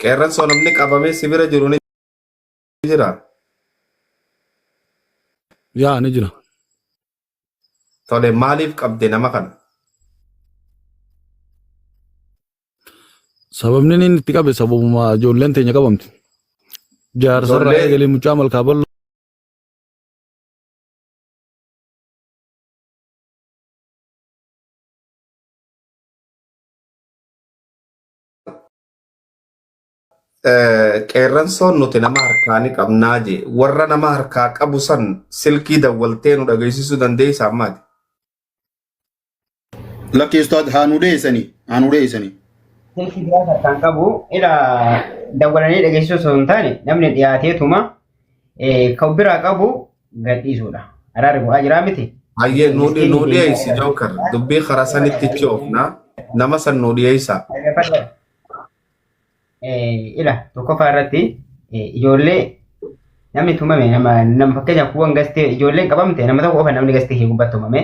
Qeerransoo namni qabamee si bira jiru ni jira. Yaa ni jira. Tole maaliif qabde nama kana? Sababni inni itti qabe sababuma ijoolleen teenya qabamti. Jaarsarraa Ijoollee- eegalee mucaa malkaa bal'oo Eh, qeerransoon nuti nama harkaa ni qabnaa jee warra nama harkaa qabu san silkii dawwaltee nu dhageessisuu dandeessaa ammaati. Lakki ustaad haa nu deessanii haa nu deessanii. Silkii biraa harkaan qabu ila dawwalanii dhageessisuu osoo hin taane namni dhiyaateetuma eh, kan biraa qabu gadhiisuudha. Araarri bu'aa jiraa miti. Hayyee Miskiin- nuu miskiin nuu keenya dhiyeessi irra- jookar dubbii karaa sanitti itti oofna nama san nuu dhiyeessaa. Dhaggeeffadhaa. Eh, Ila tokkoffaa irratti eh, ijoollee namni tumame nama nama fakkeenyaaf kuuwwan gastee ijoolleen qabamte nama tokko qofa namni gastee kee gubbatti tumame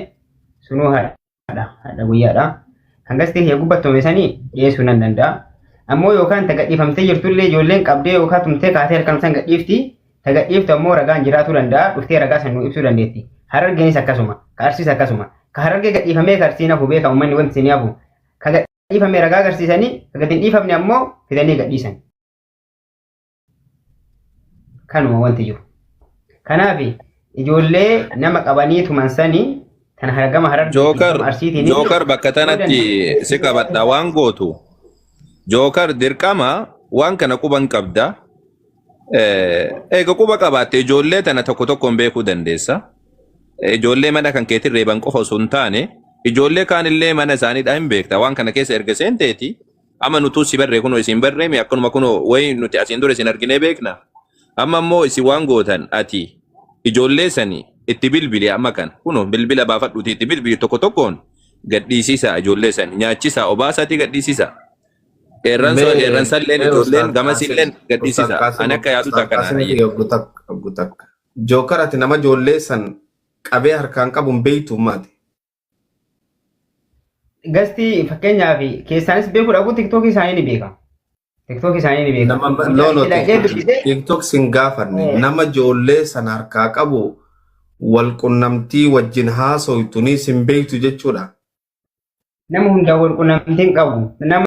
sunuu haadha. guyyaadha hadha guyyaadha hangas ta'e yoo gubbattome sanii dhiyeessuu nan danda'a ammoo yookaan ta gadhiifamtee jirtullee ijoolleen qabdee yookaan tumtee kaatee halkan san gadhiifti ta gadhiiftu ammoo ragaan jiraatuu danda'a dhuftee ragaa san nuu ibsuu dandeetti harargeenis akkasuma ka arsiis akkasuma ka harargee gadhiifamee ka arsiin hafu beeka uummanni wanti isin hafu ka gadhiifame ragaa agarsiisanii ka gad hin dhiifamne ammoo fidanii gadhiisan Kanuma wanti jiru. Kanaaf ijoollee nama qabanii tuman sanii kan hargama harargee Jookar, arsiitiin Jookar bakka tanatti si qabadha waan gootu. Jookar dirqama waan kana quban qabda. Eh, Eega quba qabaatte ijoollee tana tokko tokkoon beekuu dandeessa. Eh, Ijoollee mana kan keetiin reeban qofa osoo hin taane ijoollee kaanillee mana isaaniidhaa hin beekta. Waan kana keessa erga seenteeti Amma nutuu si barree kunoo isin barree mi akkanuma kunoo wayi nuti asiin dura isin arginee beekna. Amma immoo isin waan gootan ati ijoollee sani itti bilbili amma kan kunoo bilbila baafadhuuti itti bilbili tokko tokkoon gadhiisisaa ijoollee sani nyaachisaa obaasaatii gadhiisisaa. Qeerransa Mee qeerransa illeen mee ijoolleen Ustaaz gamas Qaasim illeen Ustaaz gadhiisisaa. Qaasim Ani akka yaaduuti Ustaaz akkanaa Qaasim hayyee. yoo gutak gutak jookar ati nama ijoollee san qabee harkaan qabuun beeytu maati. Gastii fakkeenyaaf keessaanis beekuu dhabu tiktookii isaanii ni beeka. Tiktookii isaanii ni beeka. Nama no no Dhaqee dubbisee TikTok sin gaafanne Eh. nama ijoollee san harkaa qabu wal qunnamtii wajjin haasoytu ni sin beektu jechuudha. nama hundaa wal qunnamtiin qabu. Nama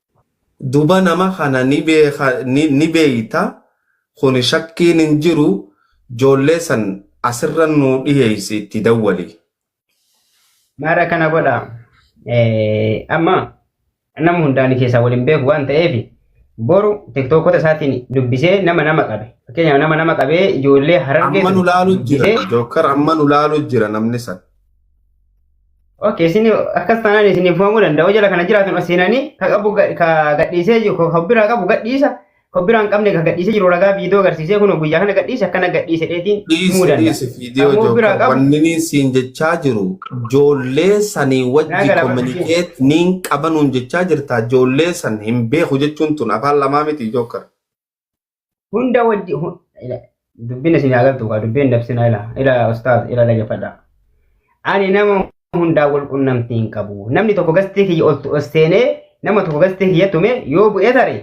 Duba nama kana ni beeka ni beeyta kuni shakkiin hin jiru joollee san asirra nuu dhiheeysi itti dawwali. Maal akkana godha amma nama hundaa ani keessaa wal hin beeku waan ta'eef boru tiktookota isaatiin dubbisee nama nama qabe fakkeenyaaf nama nama qabee ijoollee harargee Amma nu laalu jira dubbisee jookkar amma nu laalu jira namni san. Ok, isin akkas taanaan isin fufamuu danda'u jala kana jiraatan ol seenanii ka qabu ga- ka gadhiisee jiru ka biraa qabu gadhiisa ka biraa hin qabne ka gadhiisee jiru ragaa viidiyoo agarsiisee kun guyyaa kana gadhiise akkana gadhiise dheetiin himuu dhiisi danda'a. dhiisi viidiyoo Ammoo biraa jookar qabu wanni siin jechaa jiru ijoollee sanii naa wajji galaafatu siin. kominikeet niin qabanuun jechaa jirta ijoollee san hin beeku jechuun tun afaan lamaa miti jookar hunda wajji hu- ila- dubbiin isin haa galtu kaa dubbiin dabsinaa ila ila ustaaz ila dhagefadha ani nama hundaa wal qunnamtii hin qabu namni tokko gastii kiyya ol ol seenee nama tokko gastii kiyya tume yoo bu'ee tare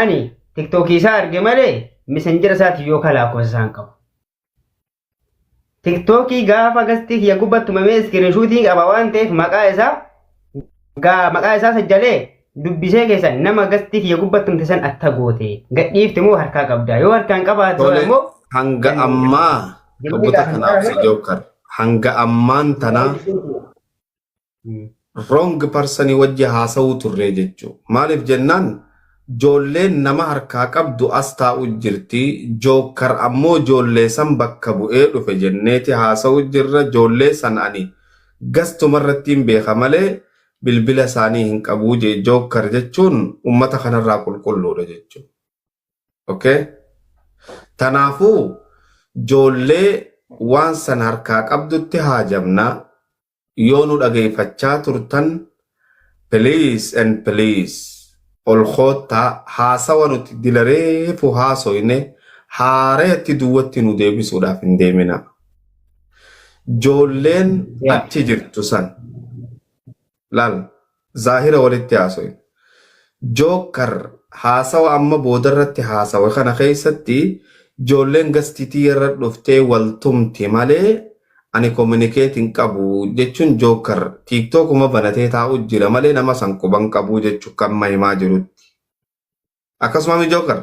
ani tiktookii isaa arge malee misenjera isaati yoo kalaa kosa isaan qabu Tiktookii gaafa gastii kiyya gubbaa tumamee iskirinshuutii qaba waan ta'eef maqaa isaa gaa maqaa isaa sajjalee dubbisee keessan nama gastii kiyya gubbaa tumte san atta goote gadhiifte moo harkaa qabda yoo harkaan qabaate Tole immoo hanga ammaa Jiruu dhuguta midhaa kan kanaaf si qabu. jookar hanga ammaan tanaa wrong person wajji haasa'uu turree jechuu. Maaliif jennaan joolleen nama harkaa qabdu as taa'u jirti, jookkar ammoo joollee san bakka bu'ee dhufe jenneeti haasa'u jirra, joollee san ani gastuma irrattiin beeka malee bilbila isaanii hin qabuu jee jookkar jechuun ummata kanarraa qulqulluudha jechuu. Okay? Tanaafuu joollee waan san harkaa qabdutti haajamna, Yoo nu dhageeffachaa turtan please and please ol koottaa haasawa nuti dila reefu haasoyne haarayatti duwwatti nu deebisuudhaaf hin deeminaa. Joolleen achi jirtu san laal. Zaahira walitti haasoyna. Jookar haasawa amma boodarratti haasawe kana keessatti ijoolleen gasti tiyyarra dhuftee wal tumti malee ani communicate hin qabu jechuun Jookar tiiktookuma banatee taa'u jira malee nama san quba hin qabu jechuun kan amma himaa jirutti. Akkasumami Jookar?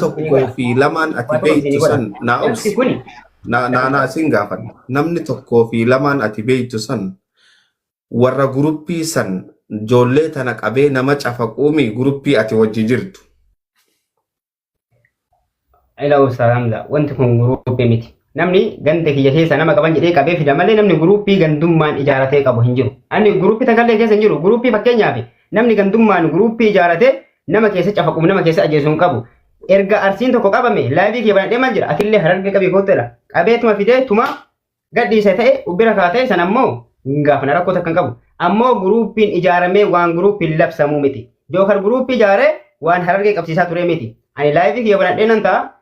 tokkoo fi lamaan ati Waan tokko beektu isinii san godha. naa Obsi obsi. kuni Na- na- na- Isin gaafadha. Namni tokkoo fi lamaan ati beektu san warra guruppii san ijoollee tana qabee nama cafaquumi guruppii ati wajji jirtu. ila obsa hamza wanti kun guruuppii miti. Namni ganda kiyya keessa nama qaban jedhee qabee fida malee namni guruuppii gandummaan ijaaratee qabu hin jiru. Ani guruuppii takallee keessa hin jiru. Guruuppii fakkeenyaaf namni gandummaan guruuppii ijaaratee nama keessa cafaquuf nama keessa ajjeesu hin qabu. Erga arsiin tokko qabame laayivii kee banadhee maal jedha atillee harargee qabii kootteedha. Qabee tuma fidee tuma gadhiise ta'e ubbira kaa ta'e san ammoo hin gaafana rakkoo takka hin qabu. Ammoo guruuppiin ijaaramee waan guruuppiin labsamuu miti. Jookar guruuppii ijaaree waan harargee qabsiisaa turee miti. Ani laayivii kiyya banadhee nan ta'a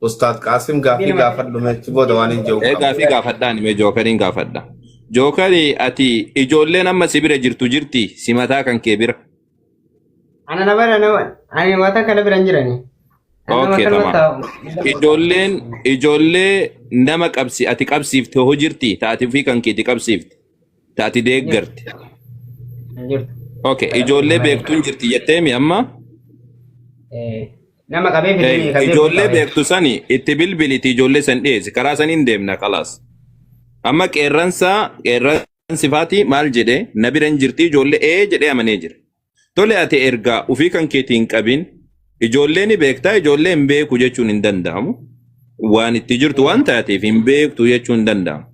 Ustaad Qaasim gaaffii gaafadhu mee achi booda waan hin jehu Ee qaba. gaafii gaafadhaan mee jookariin gaafadha. Jookari ati ijoolleen amma si bira jirtu jirti si mataa kan kee bira. Ana na bara nama ani wata kana biran jirani. Ani nama Okay kana tamam. taa'u. Ijoolleen ijoollee nama qabsi ati qabsiifte hoo jirti taati ofii kan keeti qabsiifte taati deeggarte. Jirtu. Okay ijoollee beektuun jirti jetteemi amma Eh. Nama qabee fidanii Eeyyee, kasee ijoollee qabee. beektu sani itti bilbiliti ijoollee san dhiyeessi karaa saniin deemna kalaas amma qeerransa qeerransi faati maal jedhe na bira hin jirti ijoollee ee jedhee amanee jira tole ati ergaa ofii kan keetii hin qabin ijoollee ni beektaa ijoollee hin beeku jechuun hin danda'amu waan itti jirtu waan taateef hin beektu jechuun hin danda'amu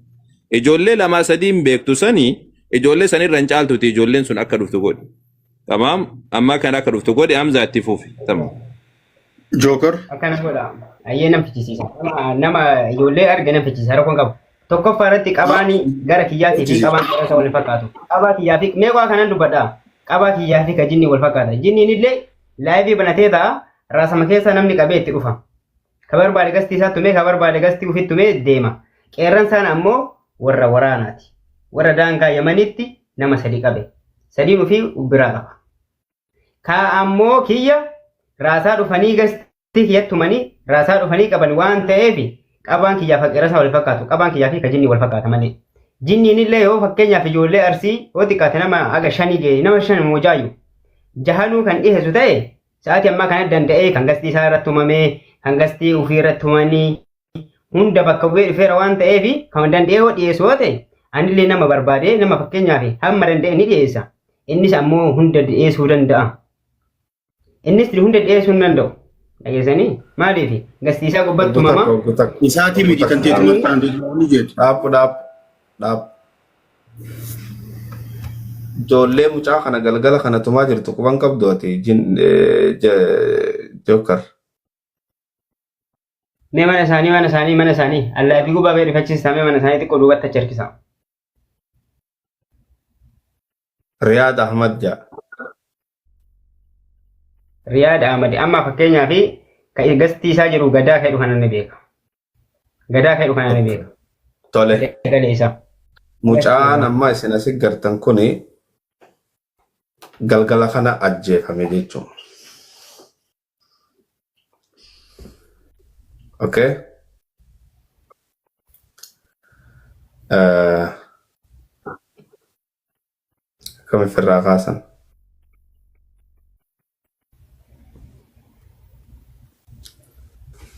ijoollee lamaa sadii hin beektu sani ijoollee sanirra hin caaltuti ijoolleen sun akka dhuftu godhi Tamaam amma kan akka dhuftu godhi Hamzaa itti fufi. Tamaam. Joker. Akkana godha. Ayyee nan fichisiisa. Nama- Nama ijoollee arge nan fichisiisa. Rakkoon qabu. Tokkoffaa irratti qabaani gara kiyyaatii fi qabaan gara isa wal hin fakkaatu. Qabaa kiyyaa fi mee waa kanan dubbadha. Qabaa kiyyaa fi ka jinni wal fakkaata. Jinniin illee laayivii banatee ta'a. Raasama keessa namni qabee itti dhufa. Ka barbaade gastii isaa tumee ka barbaade gastii ufitti tumee deema. Qeerransaan ammoo warra waraanaati. Warra daangaa Yamaniitti nama sadi qabe. Sadiin ufii ubbiraa qaba. Ka ammoo kiyya raasaa dhufanii gastii kiyya tumanii raasaa dhufanii qaban waan ta'eef qabaan kiyyaa fi qeerransaa wal fakkaatu. Qabaan kiyyaa fi ka jinnii wal fakkaata malee. Jinniin illee yoo fakkeenyaaf ijoollee arsii yoo xiqqaate nama aga shanii ga'e nama shan moojaayu jahanuu kan dhiheessu ta'e Sa'aatii ammaa kana danda'ee kan gastii isaa irratti uumamee kan gastii ofii irratti uumanii hunda bakka bu'ee dhufeera waan ta'eef kan danda'ee yoo dhiyeessu yoo ta'e anillee nama barbaadee nama fakkeenyaaf hamma danda'e ni dhiyeessa. Innis ammoo hunda dhiyeessuu danda'a. Innis hunda dhiyeessuu hin danda'u. Dhageessanii maaliif gastii isaa gubbatti uumama. Isaatii miti kan teetumatti taa'an ni jedhu. Dhaabbu dhaabbu. dhaab ijoollee mucaa kana galgala kana tumaa jirtu quban qabdu ati jin jookar Mee mana isaanii mana isaanii mana isaanii allaa fi gubaa bee rifachiistaa mee mana isaanii xiqqoo duubatti achi harkisaa. riyaad ahmad jaa Riyaad Ahmad amma fakkeenyaaf ka gastii isaa jiru gadaa fedhu kana ni beeka. Gadaa fedhu kana ni beeka. Tole. Galee isaa. Mucaan amma isin asi gartan kun galgala kana ajjeefame jechuudha. Okay. Eh, Akkam ofirraa kaasan.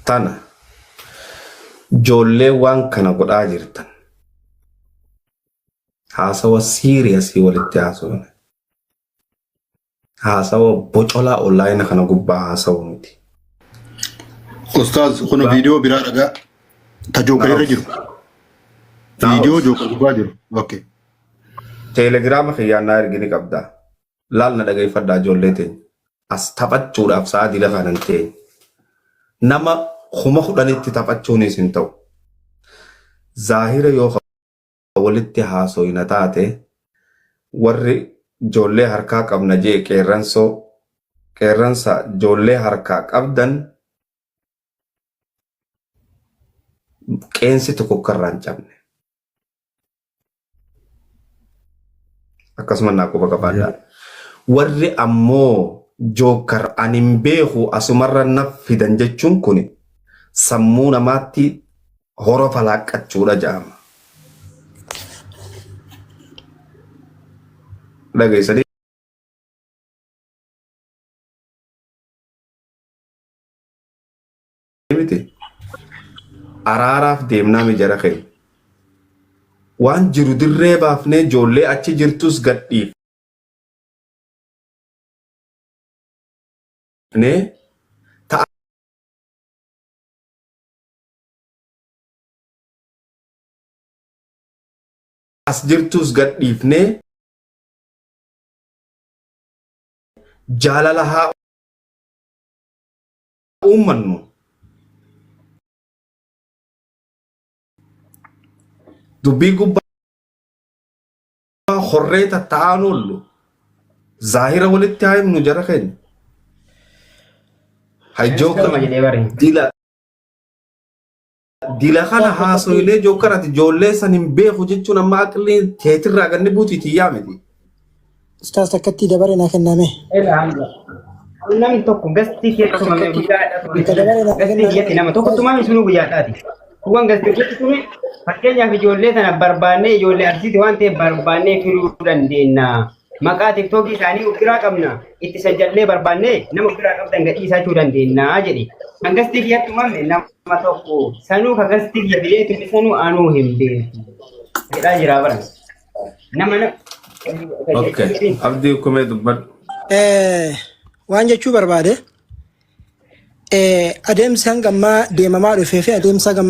Tana ijoollee waan kana godhaa jirtan haasawa siiriyasii walitti haasofne. Haasawa bocolaa onlaayina kana gubbaa haasawu miti. Ustaaz kun viidiyoo biraa dhagaa ta jookar irra jiru. Viidiyoo jookar gubbaa jiru. Okay. Teelegiraama kiyyaan naa ergi ni qabdaa. Laal na dhageeffadhaa ijoollee teenya. As taphachuudhaaf sa'a dila kanan teenya. Nama kuma kudhanitti taphachuunis hin ta'u. Zaahira yoo walitti haasoyna taate warri joollee harkaa qabna je'e qeerransoo qeerransa joollee harkaa qabdan qeensi tokko akka irraa hin cabne akkasuma naa quba qabaadhaa warri ammoo jookkar an hin beeku asumarra naf fidan jechuun kun sammuu namaatti horo falaaqqachuudha jedhama. Dhageessanii miti araaraaf deemnaa mijara keenya. Waan jiru dirree baafnee ijoollee achi jirtus gadhiif. Ta'a as jirtuus gadhiifnee jaalala haa uummannu. Dubbii gubbaa horree tatta'aan oollu zaahira walitti haa himnu jara keenya. Hajjoo Eeskaruma jedhee bari. dila Dila kana haasoyinee jookkarati ijoollee san hin beeku jechuun amma aqlii teetirraa ganni buutii tiyyaa miti. Ustaas takkatti dabaree naa kenname. Ela hanga. Namni tokko gastii kee tumame guyyaa adda tumame. Ka dabaree naa Gastii kenname. biyyatti nama tokko tumame sunuu guyyaa isaati. Kuwwan gastii hojjetti tume fakkeenyaaf ijoollee sana barbaannee ijoollee arsiiti waan ta'eef barbaannee fiduu dandeenya. Maqaa tiktookii isaanii of biraa qabna. Itti sajjallee barbaannee nama of biraa qabdan gadhiisaa jechuu dandeenya jedhe. Kan gastii kiyyatti uumame nama tokko. Sanuu kan gastii kiyya bilee tumne sanuu anuu hin beeku. Jedhaa jira bara. Nama na... Okay. Abdii kumee dubbadhu. Eh, waan jechuu barbaade eh, adeemsi hanga ammaa deemamaa dhufee fi adeemsa hanga